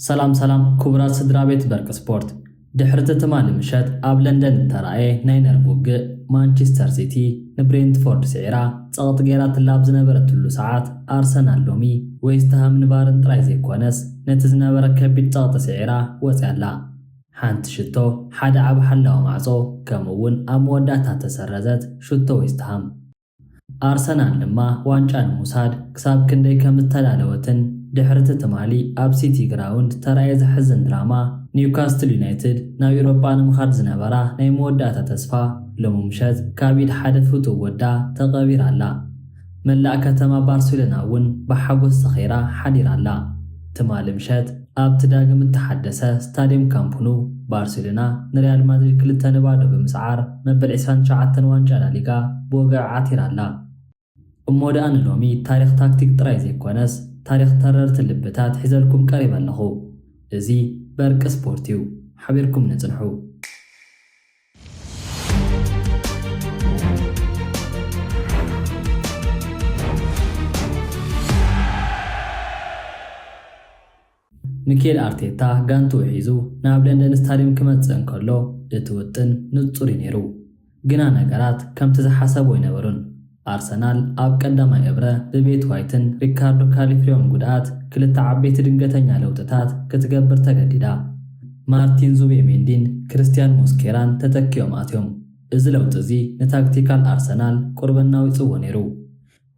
ሰላም ሰላም ክቡራት ስድራ ቤት በርቂ ስፖርት ድሕርቲ ትማሊ ምሸት ኣብ ለንደን እተራእየ ናይ ነርቭ ውግእ ማንቸስተር ሲቲ ንብሬንትፎርድ ስዒራ ጸቕጢ ገይራትላ ኣብ ዝነበረትሉ ሰዓት ኣርሰናል ሎሚ ዌስትሃም ንባርን ጥራይ ዘይኮነስ ነቲ ዝነበረ ከቢድ ጸቕጢ ስዒራ ወጽያ ኣላ ሓንቲ ሽቶ ሓደ ኣብ ሓላዊ ማዕጾ ከምኡ'ውን ኣብ መወዳእታ እተሰረዘት ሽቶ ዌስትሃም። ኣርሰናል ድማ ዋንጫ ንምውሳድ ክሳብ ክንደይ ከም እተዳለወትን ድሕሪ'ቲ ትማሊ ኣብ ሲቲ ግራውንድ እተራእየ ዘሕዝን ድራማ፣ ኒውካስትል ዩናይትድ ናብ ዩሮጳ ንምኻድ ዝነበራ ናይ መወዳእታ ተስፋ ሎሚ ምሸት ካብ ኢድ ሓደ ፍቱው ወዳ ተቐቢራ ኣላ። መላእ ከተማ ባርሴሎና እውን ብሓጐስ ሰኺራ ሓዲራ ኣላ። ትማሊ ምሸት ኣብቲ ዳግም እተሓደሰ ስታድየም ካምፕ ኑ፣ ባርሴሎና ንሪያል ማድሪድ ክልተ ን ባዶ ብምስዓር መበል ዕስራን ትሽዓተን ዋንጫ ላሊጋ ብወግዒ ዓቲራ ኣላ። እሞ ደኣ ንሎሚ ታሪኽ ታክቲክ ጥራይ ዘይኰነስ ታሪኽ ተረርቲ ልብታት ሒዘልኩም ቀሪበ ኣለኹ። እዚ በርቂ ስፖርት እዩ፣ ሓቢርኩምኒ ጽንሑ! ሚኬል ኣርቴታ ጋንትኡ ሒዙ ናብ ለንደን ስታድየም ክመጽእ እንከሎ እቲ ውጥን ንጹር እዩ ነይሩ፣ ግና ነገራት ከምቲ ዝሓሰቦ ኣይነበሩን። ኣርሰናል ኣብ ቀዳማይ እብረ ብቤት ዋይትን ሪካርዶ ካሊፍሪዮን ጉድኣት ክልተ ዓበይቲ ድንገተኛ ለውጥታት ክትገብር ተገዲዳ። ማርቲን ዙቤሜንዲን ክርስቲያን ሞስኬራን ተተኪኦም ኣትዮም። እዚ ለውጢ እዚ ንታክቲካል ኣርሰናል ቁሩብ ኣናዊጽዎ ነይሩ።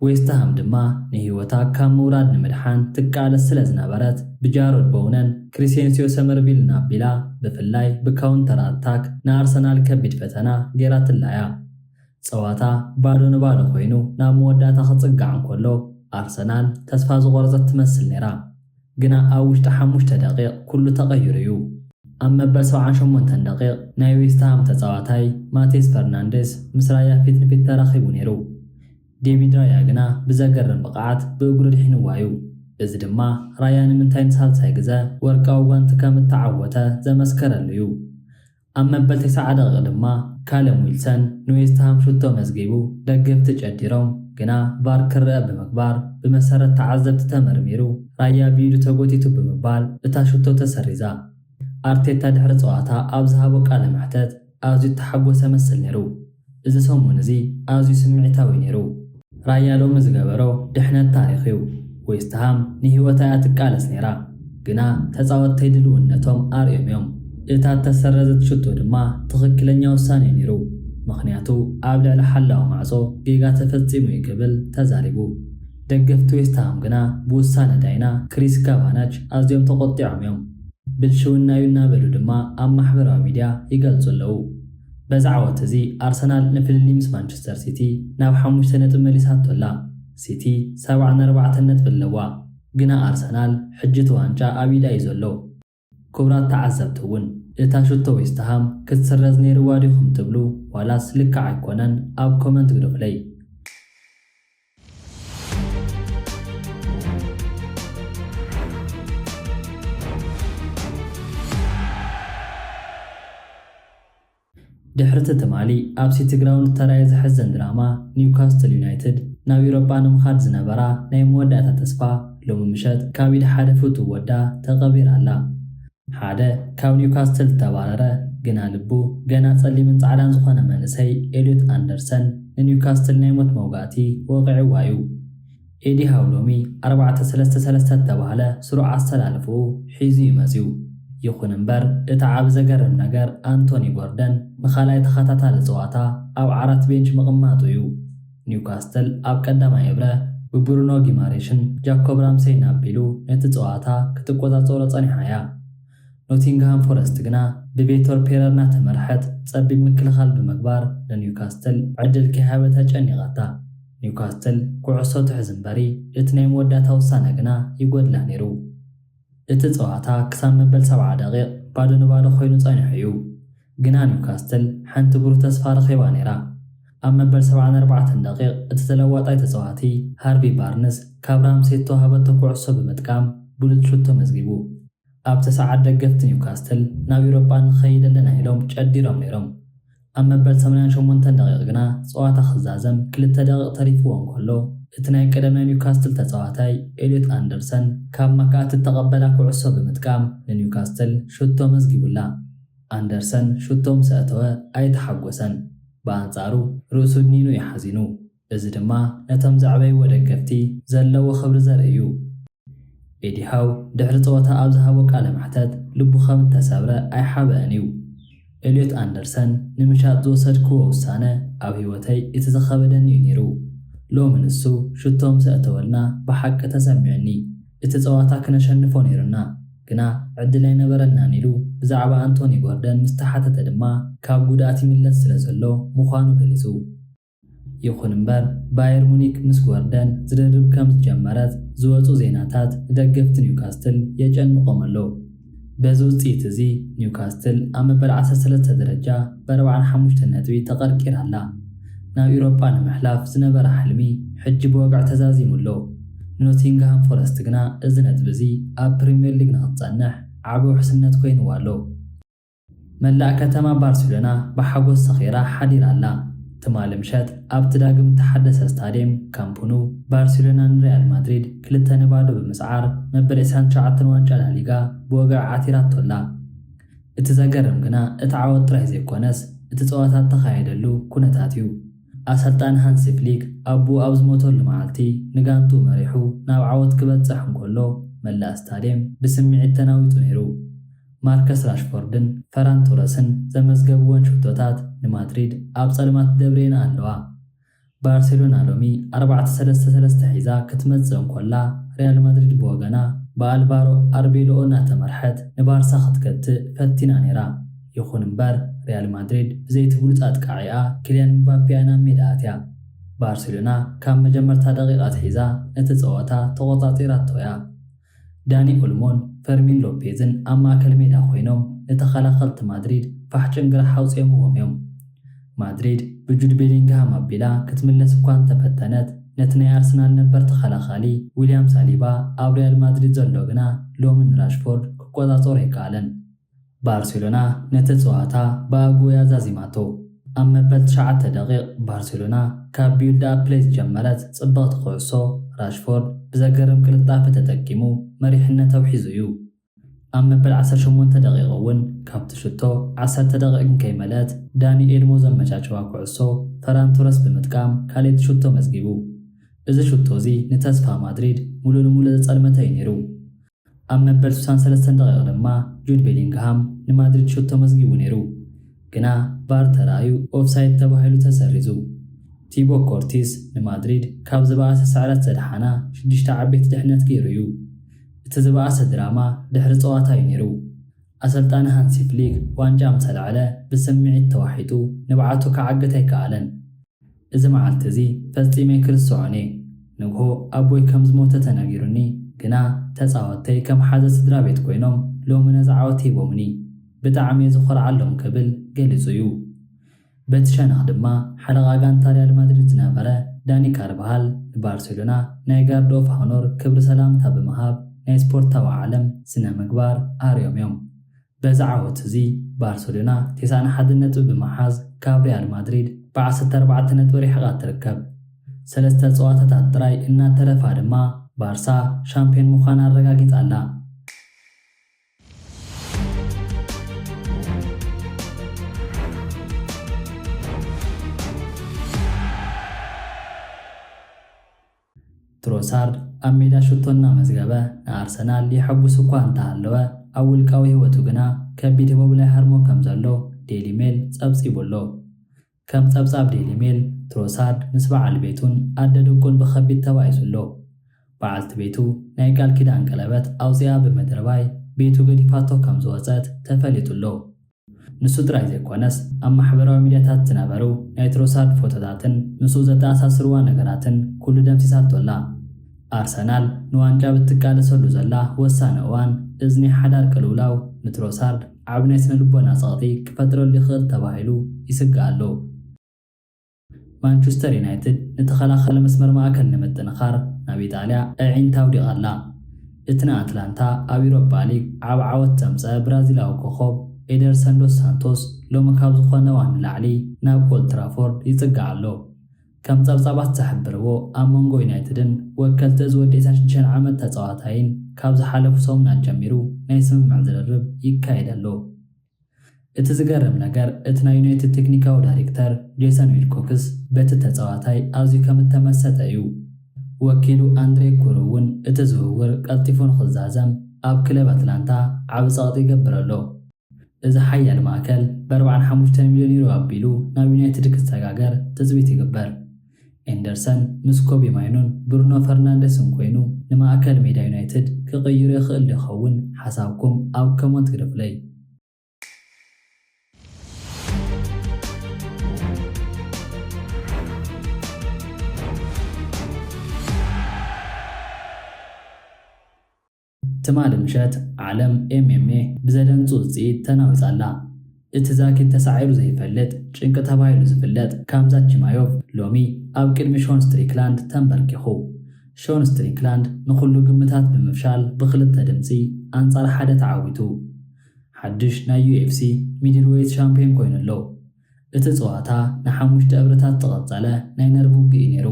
ዌስትሃም ድማ ንህይወታ ካብ ምውራድ ንምድሓን ትቃለስ ስለዝነበረት ብጃሮድ ቦውነን ክሪሴንስዮ ሰመርቪልን ኣቢላ ብፍላይ ብካውንተር ኣታክ ንኣርሰናል ከቢድ ፈተና ገይራትላ እያ። ጸዋታ ባዶ ንባዶ ኮይኑ ናብ መወዳእታ ክጽጋዕ እንከሎ፣ ኣርሰናል ተስፋ ዝቖረጸት ትመስል ነይራ። ግና ኣብ ውሽጢ ሓሙሽተ ደቒቕ ኩሉ ተቐይሩ'ዩ። ኣብ መበል ሰብዓን ሸሞንተን ደቒቕ ናይ ዌስትሃም ተጻዋታይ ማቴስ ፈርናንደስ ምስ ራያ ፊት ንፊት ተራኺቡ ነይሩ። ዴቪድ ራያ ግና ብዘገርም ብቕዓት ብእግሩ ኣድሒንዋ'ዩ። እዚ ድማ ራያ ንምንታይ ንሳልሳይ ግዘ ወርቃዊ ጓንቲ ከም እተዓወተ ዘመስከረሉ'ዩ። ኣብ መበል ተሰዓ ደቒቕ ድማ ካለም ዊልሰን ንዌስትሃም ሹቶ መዝጊቡ። ደገፍቲ ጨዲሮም ግና ቫር ክረኣ ብምግባር ብመሰረት ተዓዘብቲ ተመርሚሩ ራያ ብኢዱ ተጎቲቱ ብምባል እታ ሹቶ ተሰሪዛ። ኣርቴታ ድሕሪ ጸዋታ ኣብ ዝሃቦ ቃለ መሕተት ኣዝዩ እተሓጎሰ መስል ነይሩ። እዚ ሰሙን እዚ ኣዝዩ ስምዒታዊ ነይሩ። ራያ ሎሚ ዝገበሮ ድሕነት ታሪኽ እዩ። ዌስትሃም ንህይወታ እያ ትቃለስ ነይራ፣ ግና ተጻወትተይ ድልውነቶም ኣርእዮም እዮም። እታ እተሰረዘት ሽቶ ድማ ትኽክለኛ ውሳነ እዩ ነይሩ፣ ምኽንያቱ ኣብ ልዕሊ ሓላዊ ማዕጾ ጌጋ ተፈጺሙ እዩ ክብል ተዛሪቡ። ደገፍቲ ዌስትሃም ግና ብውሳነ ዳይና ክሪስ ካቫናች ኣዝዮም ተቖጢዖም እዮም። ብልሽውና እዩ እናበሉ ድማ ኣብ ማሕበራዊ ሚድያ ይገልጹ ኣለዉ። በዚ ዓወት እዚ ኣርሰናል ንፍልልይ ምስ ማንቸስተር ሲቲ ናብ ሓሙሽተ ነጥቢ መሊሳቶ ኣላ። ሲቲ ሰብዓን ኣርባዕተን ነጥቢ ኣለዋ። ግና ኣርሰናል ሕጂ እቲ ዋንጫ ኣብ ኢዳ እዩ ዘሎ። ኩብራት ተዓዘብቲ እውን እታ ሽቶ ዌስትሃም ክትስረዝ ነይርዋ ዲኹም ትብሉ ዋላስ ልክዕ ኣይኮነን ኣብ ኮመንት ግደፉለይ። ድሕሪ'ቲ ትማሊ ኣብ ሲቲግራውንድ ዝተራእየ ዘሕዝን ድራማ ኒውካስትል ዩናይትድ ናብ ዩሮጳ ንምኻድ ዝነበራ ናይ መወዳእታ ተስፋ ሎሚ ምሸት ካብ ኢድ ሓደ ፍቱው ወዳ ተቐቢራ ኣላ። ሓደ ካብ ኒውካስትል ዝተባረረ ግና ልቡ ገና ጸሊምን ጻዕዳን ዝኾነ መንእሰይ ኤልዮት ኣንደርሰን ንኒውካስትል ናይ ሞት መውጋእቲ ወቒዕዋ'ዩ። ኤዲ ሃው ሎሚ ኣርባዕተ ሰለስተ ሰለስተ እተባህለ ስሩዕ ኣሰላልፋኡ ሒዙ'ዩ መጺኡ። ይኹን'ምበር እቲ ዓቢ ዘገርም ነገር ኣንቶኒ ጎርደን ንኻልኣይ ተኸታታሊ ጸዋታ ኣብ ዓራት ቤንች ምቕማጡ'ዩ። ኒውካስትል ኣብ ቀዳማይ እብረ ብብሩኖ ጊማሬሽን ጃኮብ ራምሴይን ኣቢሉ ነቲ ጸዋታ ክትቆጻጸሮ ጸኒሓ'ያ። ኖቲንግሃም ፎረስት ግና ብቬቶር ፔረር እናተመርሐት ጸቢብ ምክልኻል ብምግባር ንኒውካስትል ዕድል ከይሃበት ኣጨኒቓታ። ኒውካስትል ኩዕሶ ትሕዝ እምበሪ እቲ ናይ መወዳእታ ውሳነ ግና ይጎድላ ነይሩ። እቲ ጸዋታ ክሳብ መበል ሰብዓ ደቒቕ ባዶ ንባዶ ኮይኑ ጸኒሑ እዩ፣ ግና ኒውካስትል ሓንቲ ብሩህ ተስፋ ረኺባ ነይራ። ኣብ መበል ሰብዓን ኣርባዕተን ደቒቕ እቲ ተለዋጣይ ተጻዋቲ ሃርቪ ባርንስ ካብ ራምሴ እተዋህበቶ ኩዕሶ ብምጥቃም ብሉጽ ሹት ተመዝጊቡ። ኣብቲ ሰዓት ደገፍቲ ኒውካስትል ናብ ኤውሮጳ ንኸይድ ኣለና ኢሎም ጨዲሮም ነይሮም። ኣብ መበል ሰማንያን ሸሞንተን ደቒቕ ግና ጸዋታ ክዛዘም ክልተ ደቒቕ ተሪፍዎ እንከሎ፣ እቲ ናይ ቀደም ናይ ኒውካስትል ተጻዋታይ ኤልዮት ኣንደርሰን ካብ ማካኣቲ እተቐበላ ኩዕሶ ብምጥቃም ንኒውካስትል ሹቶ መዝጊቡላ። ኣንደርሰን ሹቶ ምስ ኣእተወ ኣይተሓጎሰን፣ ብኣንጻሩ ርእሱ እድኒኑ እዩ ሓዚኑ። እዚ ድማ ነቶም ዘዕበይዎ ደገፍቲ ዘለዎ ክብሪ ዘርኢ እዩ። ኤዲ ሃው ድሕሪ ጸወታ ኣብ ዝሃቦ ቃለ መሕተት ልቡ ከም እተሰብረ ኣይሓበእን እዩ። ኤልዮት ኣንደርሰን ንምሻጥ ዝወሰድክዎ ውሳነ ኣብ ህይወተይ እቲ ዝኸበደኒ እዩ ነይሩ። ሎሚ ንሱ ሽቶ ምስ ኣእተወልና ብሓቂ ተሰሚዑኒ። እቲ ጸዋታ ክነሸንፎ ነይሩና ግና ዕድል ኣይነበረናን ኢሉ ብዛዕባ ኣንቶኒ ጎርደን ምስ ተሓተተ ድማ ካብ ጉድኣት ይምለስ ስለ ዘሎ ምዃኑ ገሊጹ። ይኹን እምበር ባየር ሙኒክ ምስ ጎርደን ዝርርብ ከም ዝጀመረት ዝወጹ ዜናታት ንደገፍቲ ኒውካስትል የጨንቖም ኣሎ። በዚ ውጽኢት እዚ ኒውካስትል ኣብ መበል ዓሰርተ ሰለስተ ደረጃ ብኣርብዓን ሓሙሽተን ነጥቢ ተቐርቂራ ኣላ። ናብ ኢውሮጳ ንምሕላፍ ዝነበራ ሕልሚ ሕጂ ብወግዒ ተዛዚሙ ኣሎ። ንኖቲንግሃም ፎረስት ግና እዚ ነጥቢ እዚ ኣብ ፕሪምየር ሊግ ንኽትጸንሕ ዓቢ ውሕስነት ኮይንዋ ኣሎ። መላእ ከተማ ባርሴሎና ብሓጎስ ሰኺራ ሓዲራ ኣላ። ትማሊ ምሸት ኣብቲ ዳግም እተሓደሰ ስታድየም ካምፕ ኑ፣ ባርሴሎና ንሪያል ማድሪድ ክልተ ን ባዶ ብምስዓር መበል ዕስራን ትሽዓተን ዋንጫ ላሊጋ ብወግዒ ዓቲራቶ ኣላ። እቲ ዘገርም ግና እቲ ዓወት ጥራይ ዘይኰነስ እቲ ጸወታ እተኻየደሉ ኵነታት እዩ። ኣሰልጣኒ ሃንሲ ፍሊክ ኣቦኡ ኣብ ዝሞተሉ መዓልቲ ንጋንትኡ መሪሑ ናብ ዓወት ክበጽሕ እንከሎ መላእ ስታድየም ብስምዒት ተናዊጹ ነይሩ። ማርከስ ራሽፎርድን ፈራን ቶረስን ዘመዝገብወን ሸቶታት ንማድሪድ ኣብ ጸልማት ደብርየንኣ ኣለዋ። ባርሴሎና ሎሚ ኣርባዕተ ሰለስተ ሰለስተ ሒዛ ክትመጽእ እንኮላ፣ ሪያል ማድሪድ ብወገና ብኣልቫሮ ኣርቤሎኦ እናተመርሐት ንባርሳ ክትገትእ ፈቲና ነይራ። ይኹን እምበር ሪያል ማድሪድ ብዘይ'ቲ ብሉጽ ኣጥቃዒኣ ኪልያን ምባፔኣ ናብ ሜዳ ኣትያ። ባርሴሎና ካብ መጀመርታ ደቒቕ ኣትሒዛ ነቲ ጸወታ ተቖጻጺራቶ'ያ። ዳኒ ኦልሞን ፈርሚን ሎፔዝን ኣብ ማእከል ሜዳ ኮይኖም ንተኸላኸልቲ ማድሪድ ፋሕ ጭንግራሕ ኣውጺኦምዎም እዮም። ማድሪድ ብጁድ ቤሊንግሃም ኣቢላ ክትምለስ እኳ እንተፈተነት፣ ነቲ ናይ ኣርሰናል ነበር ተኸላኻሊ ዊልያም ሳሊባ ኣብ ሪያል ማድሪድ ዘሎ ግና ሎሚ ንራሽፎርድ ክቆጻጸሮ ኣይከኣለን። ባርሴሎና ነቲ ጸዋታ ብኣግኡ እያ ዛዚማቶ። ኣብ መበል ትሽዓተ ደቒቕ ባርሴሎና ካብ ቢውልድኣፕ ፕለይ ዝጀመረት ጽብቕቲ ኩዕሶ፣ ራሽፎርድ ብዘገርም ቅልጣፈ ተጠቂሙ መሪሕነተው ሒዙ እዩ። ኣብ መበል ዓሰርተ ሸሞንተ ደቒቕ እውን ካብቲ ሽቶ ዓሰርተ ደቒቕ እንከይመልአት ዳኒ ኤልሞ ዘመቻቸዋ ኩዕሶ ፈራን ቶረስ ብምጥቃም ካልኣይቲ ሽቶ መዝጊቡ። እዚ ሽቶ እዚ ንተስፋ ማድሪድ ምሉእ ንምሉእ ዘጸልመተ እዩ ነይሩ። ኣብ መበል ስሳን ሰለስተን ደቒቕ ድማ ጁድ ቤሊንግሃም ንማድሪድ ሹት ተመዝጊቡ ነይሩ፣ ግና ቫር ተራእዩ ኦፍሳይድ ተባሂሉ ተሰሪዙ። ቲቦ ኮርቲስ ንማድሪድ ካብ ዝበኣሰ ስዕረት ዘድሓና ሽዱሽተ ዓበይቲ ድሕነት ገይሩ እዩ። እቲ ዝበኣሰ ድራማ ድሕሪ ጸዋታ እዩ ነይሩ። ኣሰልጣኒ ሃንሲ ፍሊክ ዋንጫ ምስ ኣልዓለ ብስምዒት ተዋሒጡ ንብዓቱ ክዓግት ኣይከኣለን። እዚ መዓልቲ እዚ ፈጺመ ክርስዖን እየ። ንግሆ ኣቦይ ከም ዝሞተ ተነጊሩኒ፣ ግና ተጻወትተይ ከም ሓዘ ስድራቤት ኰይኖም ሎሚ ነዚ ዓወት ሂቦምኒ። ብጣዕሚ እየ ዝዀርዓሎም ክብል ገሊጹ እዩ። በቲ ሸነኽ ድማ ሓለቓ ጋንታ ሪያል ማድሪድ ዝነበረ ዳኒ ካርቫሃል ንባርሴሎና ናይ ጋርድ ኦፍ ሃኖር ክብሪ ሰላምታ ብምሃብ ናይ ስፖርታዊ ዓለም ስነ-ምግባር ኣርዮም እዮም። በዚ ዓወት እዚ ባርሰሎና ቴስዓን ሓደን ነጥቢ ብምሓዝ ካብ ሪያል ማድሪድ ብዓሰርተ ኣርባዕተ ነጥቢ ሪሕቓ ትርከብ። ሰለስተ ፀዋታታት ጥራይ እናተረፋ ድማ ባርሳ ሻምፒዮን ምዃና ኣረጋጊፃ ኣላ። ትሮሳርድ ኣብ ሜዳ ሽቶ እናመዝገበ ንኣርሰናል የሐጕስ'ኳ እንተሃለወ፣ ኣብ ውልቃዊ ህይወቱ ግና ከቢድ ህቦብላ ይሃርሞ ከምዘሎ ዴይሊ ሜል ጸብጺቡ'ሎ። ከም ጸብጻብ ዴይሊ ሜል፣ ትሮሳርድ ምስ በዓል ቤቱን ኣደ ደቁን ብኸቢድ ተባኢሱ'ሎ። በዓልቲ ቤቱ ናይ ቃል ኪዳን ቀለበት ኣውጺኣ ብምድርባይ ቤቱ ገዲፋቶ ከምዝወጸት ተፈሊጡ'ሎ። ንሱ ጥራይ ዘይኰነስ፣ ኣብ ማሕበራዊ ሚድያታት ዝነበሩ ናይ ትሮሳርድ ፎቶታትን ምስኡ ዘተኣሳስርዋ ነገራትን ኵሉ ደምሲሳቶ ኣላ። ኣርሰናል ንዋንጫ ኣብ እትቃለሰሉ ዘላ ወሳኒ እዋን፣ እዚ ናይ ሓዳር ቅልውላው ንትሮሳርድ ዓቢ ናይ ስነ-ልቦና ጸቕጢ ክፈጥረሉ ይኽእል ተባሂሉ ይስጋእ ኣሎ። ማንቹስተር ዩናይትድ ንተኸላኻሊ መስመር ማእከል ንምጥንኻር ናብ ኢጣልያ ኣዒንታ ኣውዲቓ ኣላ። እቲ ንኣትላንታ ኣብ ዩሮፓ ሊግ ዓቢ ዓወት ዘምጸኣ ብራዚላዊ ኮኾብ ኤደርሰን ዶስ ሳንቶስ ሎሚ ካብ ዝኾነ እዋን ንላዕሊ ናብ ኦልድ ትራፎርድ ይጽጋዕ ኣሎ። ከም ጸብጻባት ዝሕብርዎ ኣብ መንጎ ዩናይትድን ወከልቲ እዚ ወዲ ዕስራን ሽዱሽተን ዓመት ተጻዋታይን ካብ ዝሓለፉ ሰሙን ኣጀሚሩ ናይ ስምምዕ ዝርርብ ይካየድ ኣሎ። እቲ ዝገርም ነገር እቲ ናይ ዩናይትድ ቴክኒካዊ ዳይሬክተር ጄሰን ዊልኮክስ በቲ ተጻዋታይ ኣዝዩ ከም እተመሰጠ እዩ። ወኪሉ ኣንድሬ ኩሩ እውን እቲ ዝውውር ቀልጢፉ ንኽዛዘም ኣብ ክለብ ኣትላንታ ዓቢ ጸቕጢ ይገብር ኣሎ። እዚ ሓያል ማእከል ብ ኣርብዓን ሓሙሽተን ሚልዮን ዩሮ ኣቢሉ ናብ ዩናይትድ ክሰጋገር ትጽቢት ይግበር። ኤንደርሰን ምስ ኮቢ ማይኑን ብሩኖ ፈርናንደስን ኮይኑ ንማእከል ሜዳ ዩናይትድ ክቕይሮ ይኽእል ዶ ይኸውን? ሓሳብኩም ኣብ ከሞንት ግደፉለይ። ትማሊ ምሸት ዓለም ኤምኤምኤ ብዘደንጹ ውጽኢት ተናዊጻ ኣላ። እቲ ዛጊት ተሳዒሩ ዘይፈልጥ ጭንቂ ተባሂሉ ዝፍለጥ ካምዛት ቺማዮቭ ሎሚ ኣብ ቅድሚ ሾን ስትሪክላንድ ተንበርኪኹ። ሾን ስትሪክላንድ ንኹሉ ግምታት ብምፍሻል ብኽልተ ድምጺ ኣንጻር ሓደ ተዓዊቱ። ሓድሽ ናይ ዩኤፍሲ ሚድልዌይት ሻምፕዮን ኮይኑ ኣሎ። እቲ ጸዋታ ንሓሙሽተ እብርታት ዝቐጸለ ናይ ነርቭ ውግእ'ዩ ነይሩ።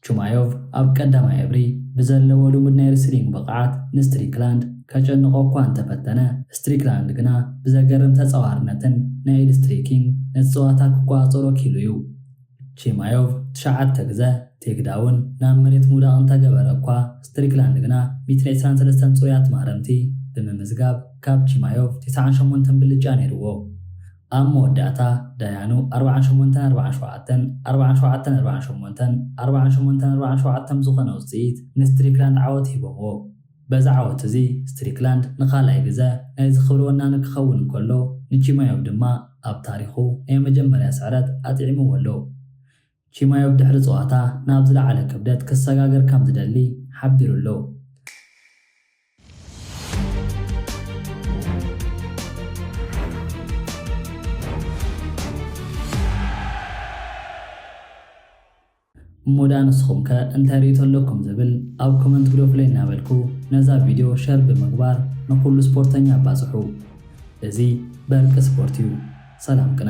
ቹማዮቭ ኣብ ቀዳማይ እብሪ ብዘለዎ ልሙድ ናይ ረስሊንግ ብቕዓት ንስትሪክላንድ ከጨንቖ እኳ እንተ ፈተነ፣ ስትሪክላንድ ግና ብዘገርም ተጻዋርነትን ናይ ኢድ ስትሪኪንግ ነቲ ጸዋታ ክቆጻጸሮ ክኢሉ እዩ። ቺማዮቭ ትሽዓተ ግዘ ቴክዳውን ናብ መሬት ምውዳቕ እንተ ገበረ እኳ፣ ስትሪክላንድ ግና ሚእትን ዕስራን ሰለስተን ጽሩያት ማህረምቲ ብምምዝጋብ ካብ ቺማዮቭ ቴስዓን ሸሞንተን ብልጫ ነይርዎ። ኣብ መወዳእታ ዳያኑ ኣርብዓን ሸሞንተን ኣርብዓን ሸውዓተን ኣርብዓን ሸውዓተን ኣርብዓን ሸሞንተን ኣርብዓን ሸሞንተን ኣርብዓን ሸውዓተን ብዝኾነ ውጽኢት ንስትሪክላንድ ዓወት ሂቦምዎ። በዚ ዓወት እዚ ስትሪክላንድ ንኻልኣይ ግዘ ናይዚ ክብሪ ወናኒ ክኸውን እንከሎ ንቺማዮቭ ድማ ኣብ ታሪኹ ናይ መጀመርያ ስዕረት ኣጥዒምዎ ኣሎ። ቺማዮቭ ድሕሪ ጸዋታ ናብ ዝለዓለ ክብደት ክሰጋገር ከምዝደሊ ሓቢሩ ኣሎ። እሞ ድኣ ንስኹም ከ እንታይ ርእይቶ ኣለኩም ዝብል ኣብ ኮመንት ግደፉለይ እናበልኩ ነዛ ቪድዮ ሸር ብምግባር ንኹሉ ስፖርተኛ ኣባጽሑ። እዚ በርቂ ስፖርት እዩ። ሰላም ቅነ።